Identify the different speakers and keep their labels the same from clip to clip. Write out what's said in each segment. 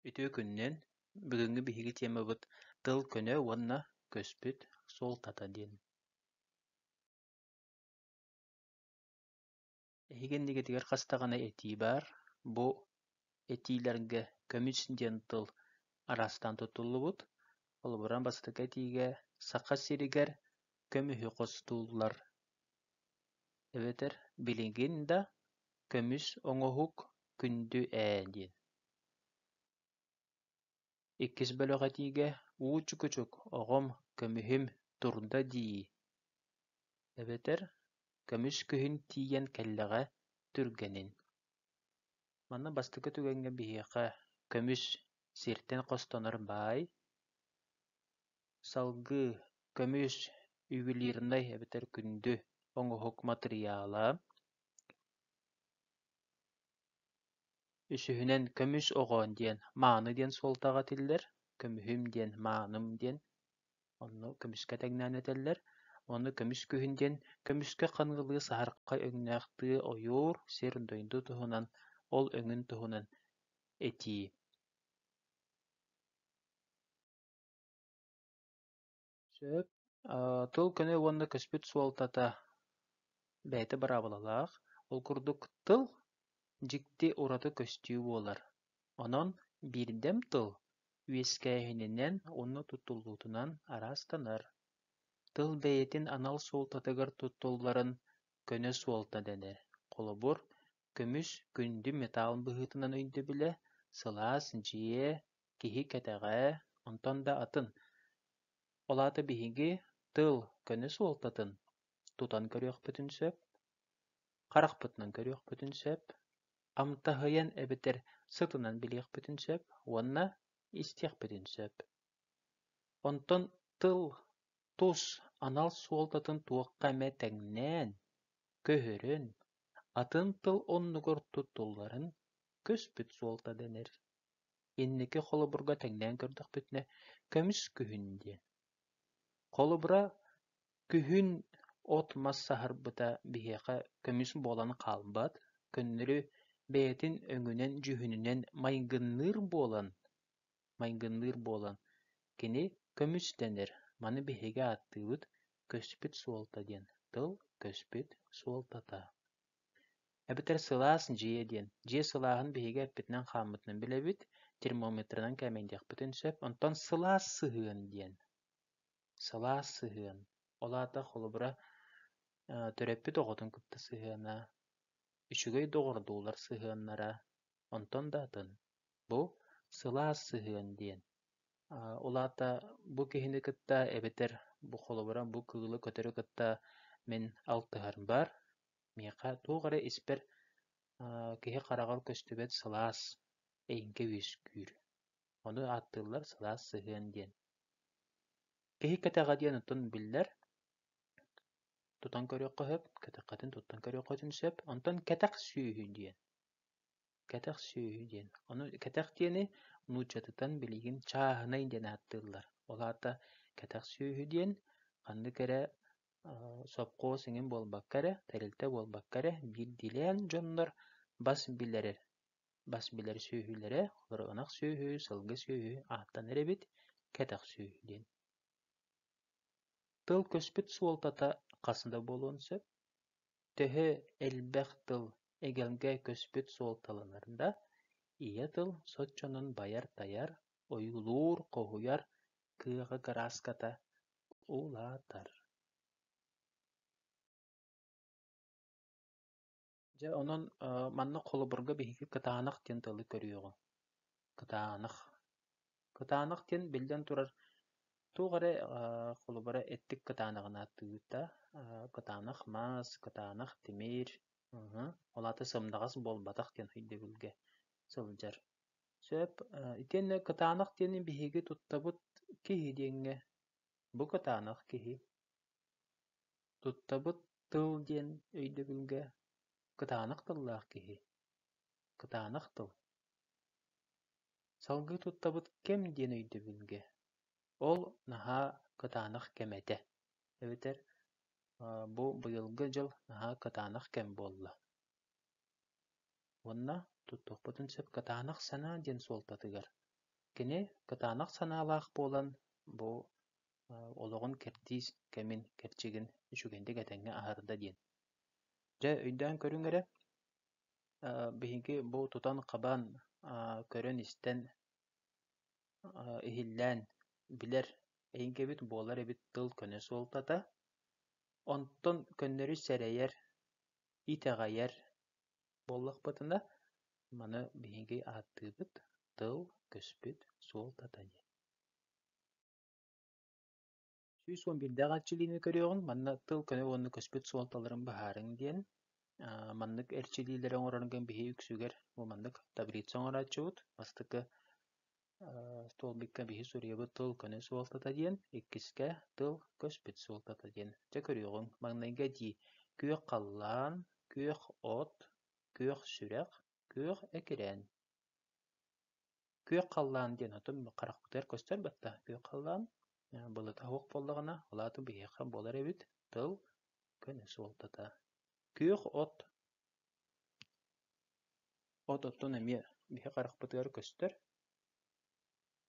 Speaker 1: Үтүө күнүнэн! Бүгүҥҥү биһиги тиэмабыт Тыл көнө уонна көспүт суолтата диэн. Эһиги иннигитигэр хас даҕаны этии баар. Бу этиилэргэ көмүс диэн тыл араастаан туттуллубут. Холобуран, бастакы этиигэ Саха сиригэр көмүһү хостууллар эбэтэр билигин да Көмүс оҥоһук күндү ээ диэн Иккис бөлөҕөтүүгэ «уу чукучук, оҕом, көмүһүм, турда дии» эбэтэр «көмүс күһүн тиийэн кэллэҕэ, түргэнин» Манна бастакы түгэҥҥэ биһиэхэ «көмүс» сиртэн хостонор баай, салгыы «көмүс» ювелирнай эбэтэр күндү оҥоһук матырыйаала, Үсүһүнэн көмүс оҕо диэн мааны диэн суолтаҕа этиллэр, көмүһүм диэн мааным диэн онно көмүскэ тэҥнээн этэллэр, уонна көмүс күһүн диэн көмүскэ хангылыы саһархай өҥнөөх тыы ойуур сир-дойду туһунан, ол өҥүн туһунан этии. Сөп. тыл көнө уонна көспүт суолтата бэйэтэ быраабылалаах. Ол курдук тыл дьикти ураты көстүү буолар. Онон биирдэм тыл үөскээһининэн уонна туттуллуутунан араастанар. Тыл бэйэтин анал суолтатыгар туттулларын көнө суолта дэнэр. Холобур, Көмүс, күндү металл быһыытынан өйдөбүлэ, сылаас, дьиэ, киһи кэтэҕэ, онтон да атын. Ол аата биһиги тыл, көнө суолтатын тутан көрүөхпүтүн сөп, харахпытынан көрүөхпүтүн сөп, амтаһыйан эбэтэр сытынан билиэхпитин сөп уонна истиэхпитин сөп. Онтон тыл Тус анал суолтатын туохха эмэ тэҥнээн, көһөрөн, атын тыл оннугар туттулларын көспүт суолта дэнэр. Инники холобурга тэҥнээн көрдөхпүтүнэ, көмүс күһүн диэн. Холобура, күһүн от-мас саһарбыта биһиэхэ көмүс буолан хаалбат, көннөрү бэйэтин өҥүнэн-дьүһүнүнэн майгынныыр буолан, майгынныыр буолан, кини «көмүс» дэнэр, маны биһиги ааттыыбыт «көспүт суолта» диэн тыл «көспүт суолтата» эбэтэр «сылаас дьиэ» диэн. Дьиэ сылааһын биһиги эппитинэн-хааммытынан билэбит, термометрынан кээмэйин диэхпитин сөп. Онтон сылаас сыһыан диэн. Сылаас сыһыан. Ол аата холобура төрөппүт оҕотун кытта сыһыана, үчүгэй доҕордуулар сыһыаннара, Онтон да атын, бу сылаас сыһыан диэн. Ол аата бу киһини кытта эбэтэр бу холобура бу кыылы көтөрү кытта мин алтыһар баар. Миэхэ туох эрэ испэр киһи хараҕар көстүбэт сылаас эйиҥкэ үөскүүр. Ону ааттыыллар сылаас сыһыан диэн. Киһи кэтэҕэ диэн оттон биллэр. Тутан көрүөххэ сөп, кэтэххитин туттан көрүөххитин сөп. Онтон кэтэх сүөһү диэн. Кэтэх сүөһү диэн, ону кэтэх диэни нууччатытан билигин чааһынай диэн ааттыыллар. Ол аата кэтэх сүөһү диэн ханнык эрэ сопхуос иҥин буолбакка эрэ, тэрилтэ буолбакка эрэ биирдиилээн дьоннор бас билэрэр бас билэр сүөһүлэрэ, олору ынах сүөһү, сылгы сүөһү ааттанар эбит, кэтэх сүөһү диэн. Тыл көспүт суолтата хас да буолуон сөп. Төһө элбэх тыл эгэлгэ көспүт суолталанар да, ийэ тыл соччонон байар-тайар, ойуулуур-хоһуйар кыаҕа кырааската улаатар Дьэ, онон манна холобурга биһиги кытаанах диэн тылы көрүөҕүҥ. Кытаанах. Кытаанах диэн, биллэн турар, туох эрэ холобура эттик кытаанаҕын ааттыыта. Кытаанах маас, кытаанах тимир, ол аата сымнаҕас буолбатах диэн өйдөбүлгэ сылдьар. Сөп. Итиэннэ кытаанах диэни биһиги туттабыт киһи диэҥҥэ. Бу кытаанах киһи. Туттабыт тыл диэн өйдөбүлгэ кытаанах тыллаах киһи. Кытаанах тыл. Салгыы туттабыт кэм диэн өйдөбүлгэ, ол наһаа кытаанах кэм этэ, эбэтэр бу быйылгы дьыл наһаа кытаанах кэм буолла. Уонна туттуохпутун сөп кытаанах санаа диэн суолтатыгар. Кини кытаанах санаалаах буолан бу олоҕун кэрдиис кэмин кэрчигин үчүгэйдик этэҥҥэ аһарда диэн. Дьэ, өйдөөн көрүҥ эрэ, Биһиги бу тутан-хабан, көрөн-истэн, иһиллээн билэр эйгэбит буолар эбит тыл-көнө суолтата. Онтон көннөрү сэрэйэр, итэҕэйэр буоллахпытына, маны биһиги ааттыыбыт тыл, көспүт суолтата диэн. сүүс уон биирдээх эрчилиини көрүөҕүҥ, манна тыл көмө уонна көспүт суолталарын быһаарыҥ диэн. маннык эрчилиилэри оҥороргон биһи үксүгэр бу маннык таблица оҥорооччубут. Бастакы столбикка биһи суруйабыт тыл көне суолтата диэн, иккискэ тыл көспүт суолтата диэн. Дьэ көрүөҕүҥ, маҥнайга дии күөх халлаан, күөх от, күөх сүрэх, күөх экирээн. Күөх халлаан диэн отум харахпытыгар көстөрбөт да, күөх халлаан э, былыта суох буоллаҕына, ол аата биһиэхэ буолар эбит тыл, көнө суолтата. Күөх от от оттон эмиэ биһи харахпытыгар көстөр.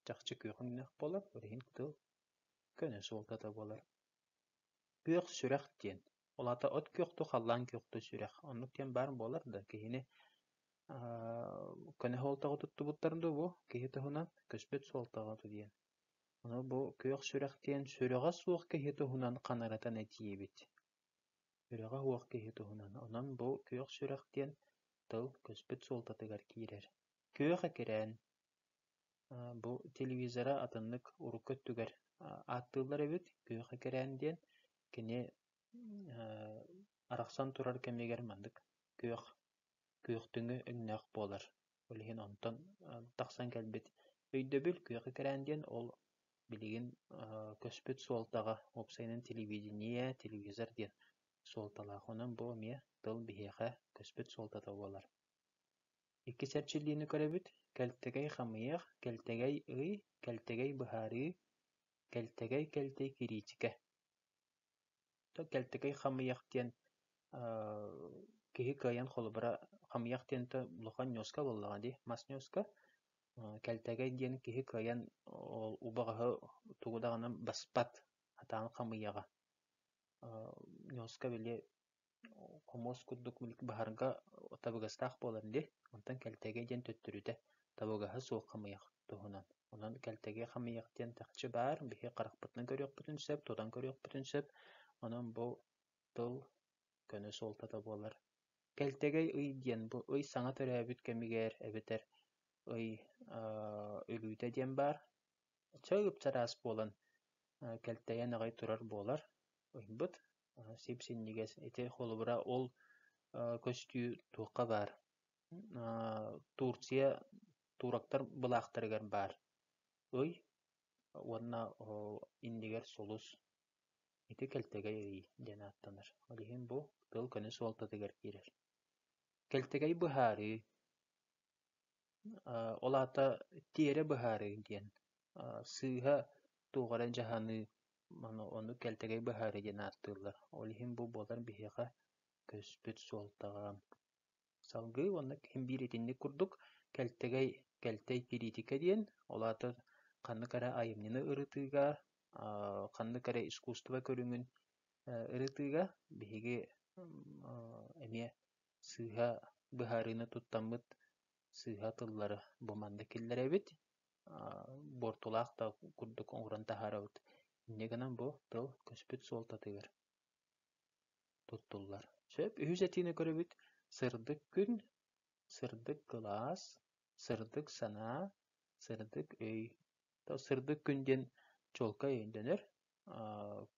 Speaker 1: Чахчы күөх өҥнөөх буолар, ол иһин тыл көнө суолтата буолар. Күөх сүрэх диэн, ол аата от күөхтүү халлаан күөхтүү сүрэх. Оннук диэн баар буолар да, киһини көнө суолтаҕа туттубуттар дуу бу, киһи туһунан көспүт суолтаҕа диэн. Аны бу күөх сүрэх диэн сүрэҕэ суох киһи туһунан ханарытан этиибит. Сүрэҕэ суох киһи туһунан. Онон бу күөх сүрэх диэн тыл көспүт суолтатыгар киирэр. Күөх экирээн Бу телевизора атыннык урукку өттүгэр ааттыыллар эбит «Күөх экэрээн» диэн. Кини арахсан турар кэмигэр маннык күөх, күөхтүҥү өҥнөөх буолар. Ол иһин онтон тахсан кэлбит өйдөбүл «Күөх экэрээн» диэн. Ол билигин көспүт суолтаҕа уопсайынан телевидение, телевизор диэн суолталаах. Онон бу эмиэ тыл биһиэхэ көспүт суолтата буолар. Иккис эрчиллиини көрөбүт: кэлтэгэй хамыйах, кэлтэгэй ый, кэлтэгэй быһаарыы, кэлтэгэй кэлтэй кириичикэ. Кэлтэгэй хамыйах диэн киһи кыайан холобура хамыйах диэн то улахан ньуоска буоллаҕа дии, мас ньуоска. Кэлтэгэй диэн киһи кыайан убаҕаһы тугу даҕаны баспат, сатаан хамыйаҕа. Ньуоска били Хомуос курдук баһарга табыгастаах буолан дии, онтон кэлтэги диэн төттөрүтэ табыгаһа суох хамыйах туһунан. Онон кэлтэги хамыйах диэн такчы баар, биһи харахпытынан көрүөхпүтүн сөп, тутан көрүөхпүтүн сөп. Онон бу тыл көнө суолтата буолар. Кэлтэгэй ый диэн бу ый саҥа төрөөбүт кэмигэр эбэтэр ый өлүүтэ диэн баар. Чөл ыпчараас буолан кэлтэйэн аҕай турар буолар ыйбыт. сип-синньигэс. Ити холобура ол көстүү туохха баар? Турция туурактар былаахтарыгар баар ый уонна иннигэр сулус. Ити кэлтэгэй ый диэн ааттанар. Ол иһин бу тыл көнө суолтатыгар киирэр. Кэлтэгэй быһаарыы Ол аата тиэрэ быһаарыы диэн, сыыһа туох эрэ дьаһаныы, ону кэлтэгэй быһаарыы диэн ааттыыллар. Ол иһин бу буолар биһиэхэ көспүт суолтаҕа. Салгыы уонна ким биир итинник курдук кэлтэгэй, кэлтэй кириитикэ диэн, ол аата ханнык эрэ айымньыны ырытыыга, ханнык эрэ искусство көрүҥүн ырытыыга биһиги эмиэ сыыһа быһаарыыны туттаммыт сыыһа тыллары бу манна киллэрэбит, буортулаах да курдук оҥорон таһаарабыт. Инньэ гынан бу тыл көспүт суолтатыгар туттуллар. Сөп, үһүс этиини көрөбүт. Сырдык күн, сырдык кылаас, сырдык санаа, сырдык өй. Сырдык күн диэн чуолкай дэнэр.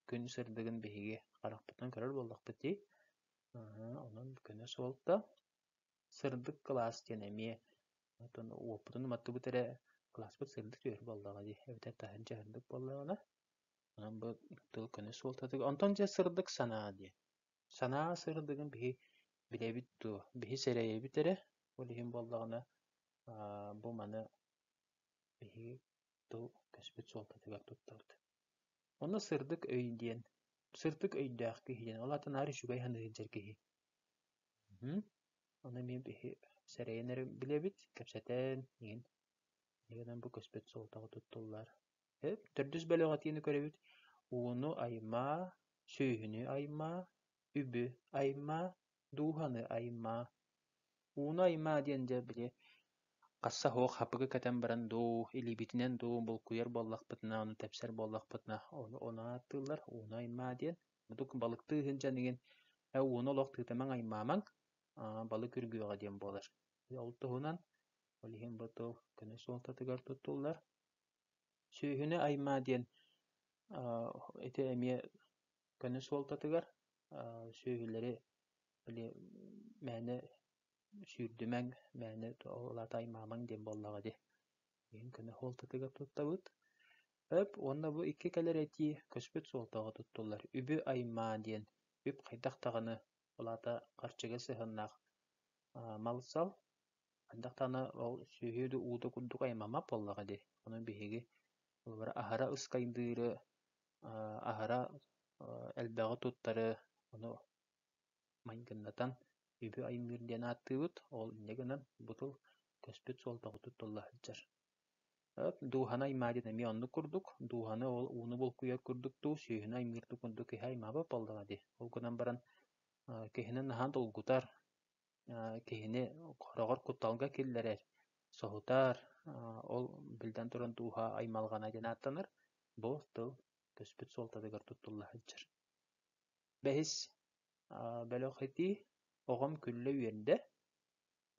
Speaker 1: Күн сырдыгын биһиги харахпытынан көрөр буоллахпыт дии. Онон күнэ суолта. Сырдык кылаас диэн эмиэ оттон уоппутун уматтыбыт эрэ кылааспыт сырдык түһэр буоллаҕа дии. Эбэтэр таһырдьа сырдык буоллаҕына. Онон бу тыл күнэ суолтатыгар. Онтон дьэ сырдык санаа диэн. Санаа сырдыгын биһи билэбит дуо? Биһи сэрэйэбит эрэ. Ол иһин буоллаҕына бу маны Биһиги тыл кэспит суолтатыгар туттабыт Онно сырдык өй диэн сырдык өйдөөх киһи диэн, ол аата наар үчүгэй санаа сылдьар киһи. Ону эмиэ биһи сэрэйэн эрэ билэбит, кэпсэтэн иһин. Эһиги гынан бу көспүт суолтаҕа туттуллар. Төрдүс бөлөҕүтиини көрөбүт. Ууну аймаа, сүөһүнү аймаа, үбү аймаа, дууһаны аймаа, ууну аймаа диэн дьэ били хасса суох хапыгы кэтэн баран дуу, илиибитинэн дуу булкуйар буоллахпытына, ону тэпсэр буоллахпытына ону ону ааттыыллар ууну аймаа диэн. Мутук балыктыы сылдьан игин «Э ууну олох тыытымаҥ, аймаамаҥ, аа балык үргүөҕэ» диэн буолар. Ол туһунан ол иһин бу тыл көнө суолтатыгар туттуллар. Сүүһүнү аймаа диэн аа ити эмиэ Көні суолтатыгар сүөһүлэри мээнэ сүүрдүмэҥ, мээнэ ол аата аймаамаҥ диэн буоллаҕа дии. Ийэҥ көнө суолтатыгар туттабыт. Өп уонна бу икки кэлэр этии көспүт суолтаҕа туттуллар. Үбү аймаа диэн үп хайдах даҕаны, ол аата харчыга сыһыаннаах мал-сал. Хайдах даҕаны ол сүөһү да уута курдук аймаммат буоллаҕа дии. Ону биһиги аһара ыскайдыыры, аһара элбэҕи туттары ону майгыннатан үбү аймыыр диэн ааттыыбыт ол инньэ гынан бутул көспүт суолтаҕа туттулла сылдьар дууһаны аймаа диэн эмиэ оннук курдук дууһаны ол ууну булкуйар курдук дуу сүүһүнү аймыыр курдук киһи аймаабат буоллаҕа дии ол гынан баран киһини наһаа долгутар киһини хороҕор кутталга киллэрэр, соһутар, ол биллэн туран дууһа аймалҕана диэн ааттанар. Бу тыл көспүт суолтатыгар туттулла сылдьар. Бэһис бөлөх этии «Оҕом күллэ үөрдэ»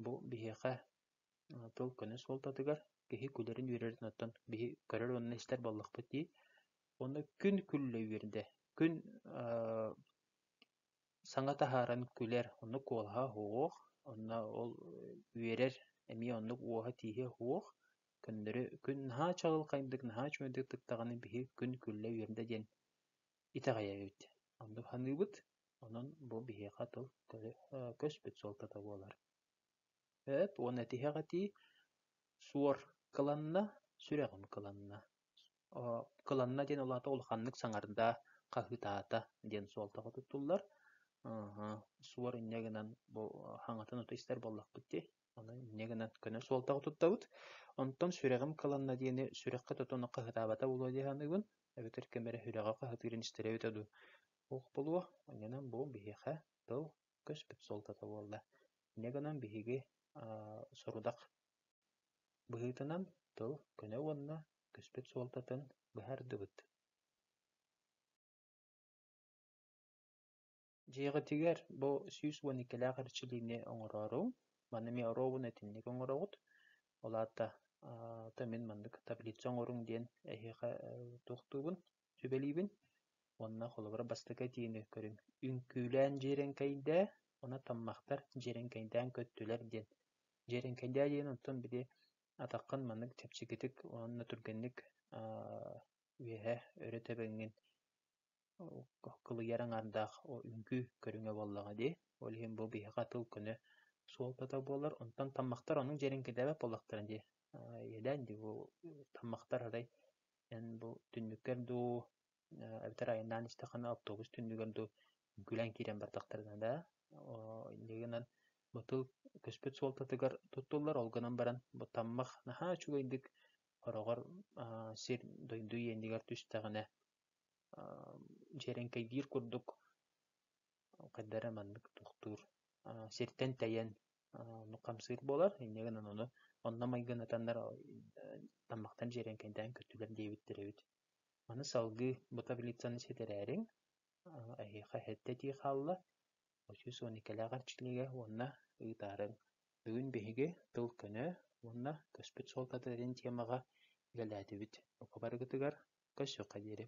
Speaker 1: бу биһиэхэ тыл көнө суолтатыгар киһи күлэрин үөрэрин оттон биһи көрөр уонна истэр буоллахпыт дии. Уонна «Күн күллэ үөрдэ» күн Саҥа таһааран күлэр, оннук куолаһа суох, онно ол үөрэр эмиэ оннук уоһа-тииһэ суох, көннөрү күн наһаа чаҕылхайдык, наһаа үчүгэйдик тыктаҕына биһи күн күллэ үөрдэ диэн итэҕэйэбит. Оннук саныыбыт, онон бу биһиэхэ тыл көспүт суолтата буолар. Эт уонна тиһэх этии: суор кыланна, сүрэҕим кыланна. Кыланна диэн улаата улаханнык саҥарда, хаһыытаата диэн суолтаҕа туттуллар. Суор инньэ гынан бу хаҥатын ото истэр буоллахпыт дии, ону инньэ гынан көнө суолтаҕа туттабыт. Онтон сүрэҕим кыланна диэни сүрэххэ тотону хаһыытаабата буолуо дии саныыбын, эбэтэр ким эрэ сүрэҕэ хаһыытыырын истэрэ эбитэ дуу, туох буолуо, инньэнэн бу биһиэхэ тыл көспүт суолтата буолла. Инньэ гынан биһиги сорудах Быһыытынан тыл көнө уонна көспүт суолтатын быһаардыбыт Дьиэҕитигэр бу сүүс уон иккилээх эрчилиини оҥороору, маны эмиэ оруобун итинник оҥороҕут. Ол аата ата мин маннык таблица оҥоруҥ диэн эһиэхэ туохтуубун сүбэлиибин уонна холобура бастакы этиини көрүҥ үҥкүүлээн дьиэрэҥкэйдээ уонна таммахтар дьиэрэҥкэйдээн көттүлэр диэн дьиэрэҥкэйдээ диэн онтон били атаххын маннык чэпчэкитик уонна түргэнник үөһэ өрө тэбэҥҥин кылыйар аҥаардаах үҥкүү көрүҥэ буоллаҕа дии ол иһин бу биһиэхэ тыл көнө суолтата буолар онтон таммахтар оннук дьиэрэҥкэйдээбэт буоллахтара дии иэдээн дии бу таммахтар арай Эн бу түннүккэр дуу, эбэтэр айаннаан истэххинэ оптуобус түннүгэр дуу күлэн киирэн бардахтарына да, инньэ гынан бытыл көспүт суолтатыгар туттуллар, ол гынан баран бу таммах наһаа үчүгэйдик хороҕор сир-дойду иэнигэр түстэҕинэ дьиэрэҥкэйгиир курдук хайдах эрэ маннык тохтуур, сиртэн тэйэн Ону хамсыыр буолар, инньэ гынан ону онно майгынатаннар таммахтан дьиэрэҥкэйдээн көттүлэр диэбиттэр эбит. Аны салгыы бу таблицаны ситэрээриҥ, эһиэхэ сэттэ этии хаалла. Үс уон иккилээх эрчиллиигэ уонна ыытаарыҥ. Бүгүн биһиги тыл көнө уонна көспүт суолтата диэн темаҕа үлэлээтибит. Бука барыгытыгар көрсүөххэ диэри.